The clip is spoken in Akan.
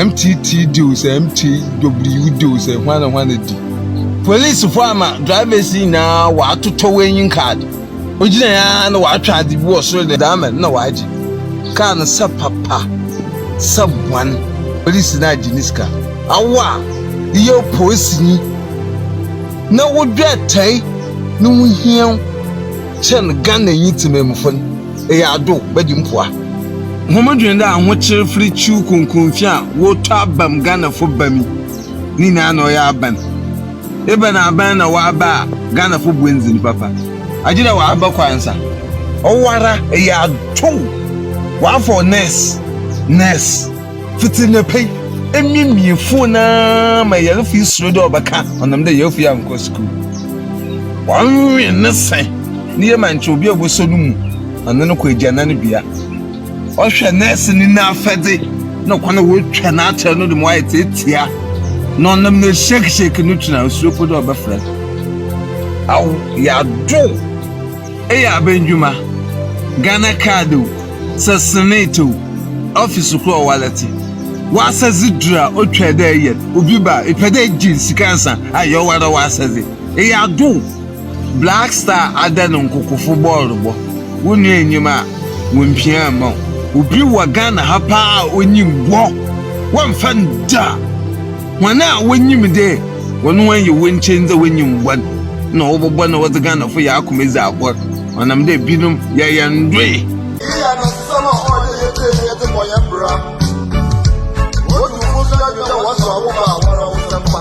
MTT deal sɛ MTW deal sɛ hwana hwana di. Polisifo ama drivers nyinaa wɔatotɔ waiting card. Ogyina ya na wɔatwa ade bi wɔ soro de ama no na wɔagye. Kaa no sɛ papa, sɛ bwan, polisi no agye ne sika. Awo a yɛ polisini na wodwɛ tae no ho hia wo kyɛn Ghananyi temammufo no. Eyɛ ado bɛdi mpoa. Hom dwen dɛ ahokyer fir ciw kronkron fi a wɔtɔ aba mu Ghanafo ba mi ne nyina na ɔyɛ aban. Ebɛn aban na wɔaba a Ghanafo bua ndzin papa? Agye dɛ wɔaba kwa nsa. Ɔwoara, eyɛ ado wɔafa wo nurse, nurse. Fitsi na pɛ yi, emiemie fon no ara ma yarfo yi suro dɛ ɔbɛka ɔnam dɛ yarfo yi annkɔ skuul. Wɔnwen ne se no yie ma nkyɛ obi a ɔbɔsɔ no mu na ɔne no kɔ egyanan bea. Ɔhwɛ nɛɛse no n'afɛdze na kwan a wotwa no akyɛr no do ma ɔayɛ tsiatsia na ɔnam no shake shake no tun a osuro mpo dɛ ɔbɛfrɛ no. Aw, yɛadow! Eyɛ aban ndwuma. Ghana kaar dɛw. sɛ senee tew ɔfi sukuu a ɔwalɛtse w'asɛdze dur a otwar dɛ eyɛ obi ba a epɛ dɛ egye nsikansa ayɛ ɔwoara w'asɛdze. Eyɛ adow. Black Star ada no nkokofo bɔɔlbɔ, wo nua nnyim a wommpia mma wo. Obi wɔ Ghana ha paa a onyim wo, wɔmmfa no da. Hɔn a wonyim dɛ hɔn ho yɛ hu nkyɛn dza wonyim bɔn na wɔbɔbɔ na wɔdze Ghanafo hɛn akoma edzi agor ɔnam dɛ binom yɛyɛ ndoe. Iyi yɛ nsɛm a ɔwɔ dɛ yɛtsie na yɛdze bɔ hɛn bra. Odzi wo bo so dɛ dwendɛ a wɔasow abo ba a wɔrewosɛm pa.